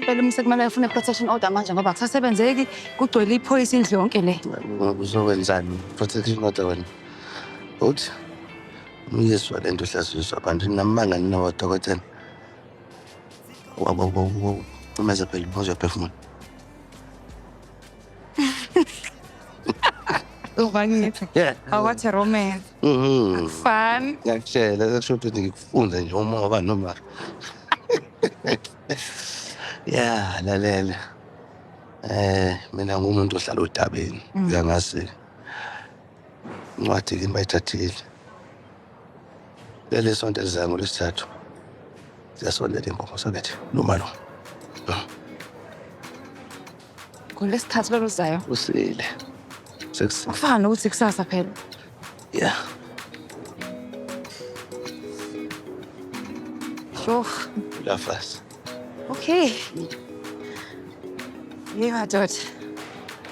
Phela umse kumele afune protection order manje ngoba kusasebenzeki kugcwele iphoyisa indlu yonke le. Uzokwenzani protection order wena? Uthi uyezwa le nto uhlaziswa abantu namanga ninawo dokotela. Wabo wabo wabo. Uma zaphela uphuzwa phefumula. Ubangithi Yeah. awathi romance. Mhm. Fun. Ngiyakutshela sekusho ukuthi ngikufunde nje uma waba noma. Yeah, lalela. Eh, mina ngumuntu ohlala odabeni. Uyangazi incwadi kimi bayithathile leli sonto elizayo ngolwesithathu ziyasondela imbongo sokethi noma lo ngolwesithathu lolu zayo usile sekusile kufana nokuthi kusasa phela ya sho lafasi Okay. Hey madoda.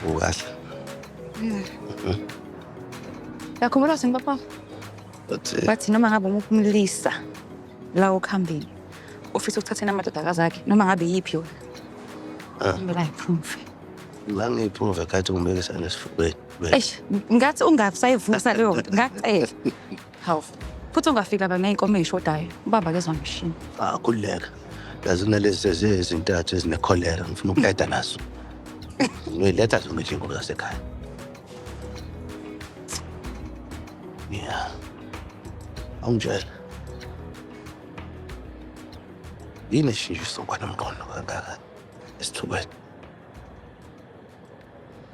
Ukahle. Yeah. Yakhumbula sini papa? Bathi eh, bathi noma ngabe umuphi umlisa la okhambile. Ufisa ukuthathena amadodakazi akhe noma ngabe yiphi yona. Ah. Ngibela iproof. La ngiyiproof ekhathi ngibekisa nesifubeni. Eish, ngathi ungasayivusa leyo nto. Ngacela. Hawu. Futhi ungafika la ney'nkomo ey'shodayo. Ubaba kezwa ngishini. Ah, khululeka. Yazi kunalezi ezintathu ezinekholera ngifuna ukuqeda nazo. Ngiletha zona nje inkomo zasekhaya. Yeah. Awungitshela. Yini eshintshe isokwana mqondo kangaka esithubeni?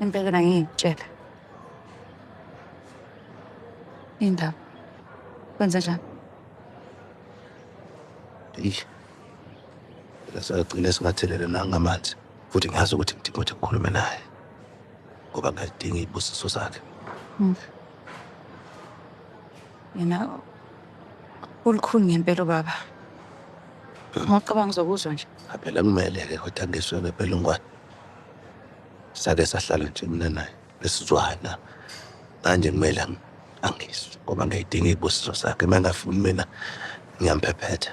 Impela ngiyitshela. Indaba. Kwenze njani? Eyi. Lasagcina singathelele nangamanzi. Futhi ngiyazi ukuthi ngidinga ukuthi ngikhulume naye. Ngoba ngiyadinga ibusiso zakhe. Mm. Yena ulukhuni ngempela ubaba. Ngokucabanga uzokuzwa nje. Phela kumele-ke kodwa ngiswe ngempela ungwane. Sake sahlala nje mina naye besizwana manje kumele ang- angizwe ngoba ngiyayidinga iy'busiso zakhe uma engafuni mina ngiyamphephetha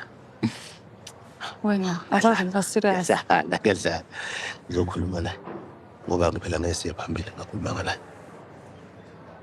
Wena akaze ngiba serious. Ngiyadlala, ngiyadlala. Ngizokhuluma naye ngoba ngiphela ngeke siye phambili ngakhulumanga naye.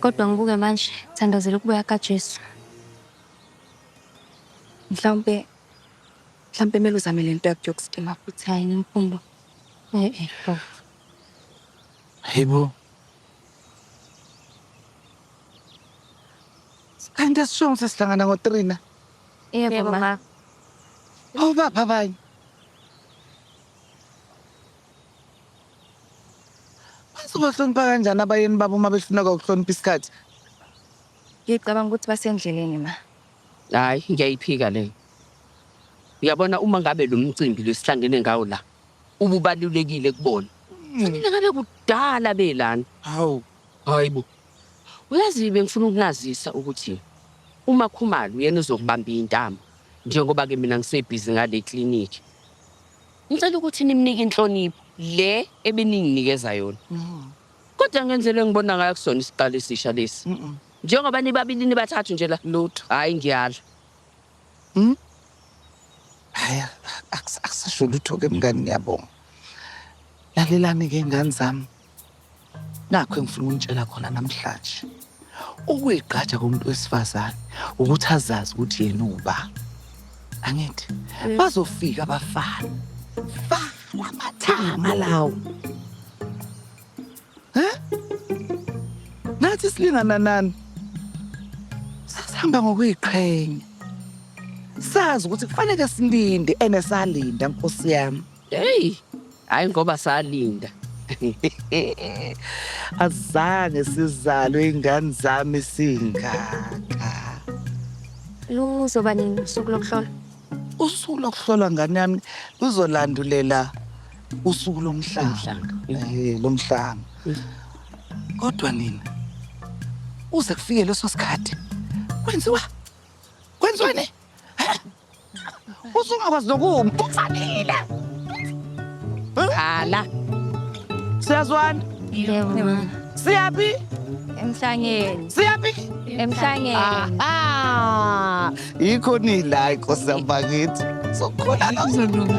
Kodwa ngibuke manje, thandazela ukubuya kaJesu. Mhlawumbe mhlawumbe kumele uzame le nto yakho yokustima futhi hayi nemfundo. Eh eh lo. Hayibo. Kanti asishongo sesihlangana ngo-3 na? Yebo ma. Obaphi abanye? Bazobahlonipha kanjani abayeni babo uma behluleka ukuhlonipha isikhathi? Ngicabanga ukuthi basendleleni ma. Hayi, ngiyayiphika leyo. Uyabona uma ngabe lo mcimbi lesihlangene ngawo la ububalulekile kubona. Kufanele ngabe kudala belana. Hawu, hayibo. Uyazi bengifuna ukunazisa ukuthi uma Khumalo yena uzokubamba intamo njengoba ke mina ngisebhizi ngale clinic. Ngicela ukuthi nimnike inhlonipho le ebeninginikeza yona. Kodwa ngenzele ngibona ngayo kusona isiqalo esisha lesi. Njengoba nibabili nibathathu nje la. Lutho. Hayi ngiyala. Hmm? Hayi akusasho lutho ke mngani ngiyabonga. Lalelani ke ngani zami. Nakho engifuna ukunitshela khona namhlanje. Ukuyigqaja komuntu wesifazane ukuthi azazi ukuthi yena uba. Angithi bazofika abafana. Fa amathanga lawo. Huh? Nathi silingana nani? Sasihamba ngokuyiqhenya. Sazi ukuthi kufanele silinde enesalinda nkosi yami. Hey, hayi ngoba salinda. Azange sizalwe ingane zami singaka. Luzoba nini usuku lokuhlola? Usuku lokuhlola ngane yami luzolandulela usuku lomhlanga. Eh, lomhlanga. Kodwa nina uze kufike leso sikhathi kwenziwa kwenziwa ne usungakwazi nokuma ufanile ala siyazwana yebo siyaphi emhlangeni siyaphi emhlangeni aha yikho nila inkosi yambakithi sokhona lozolunga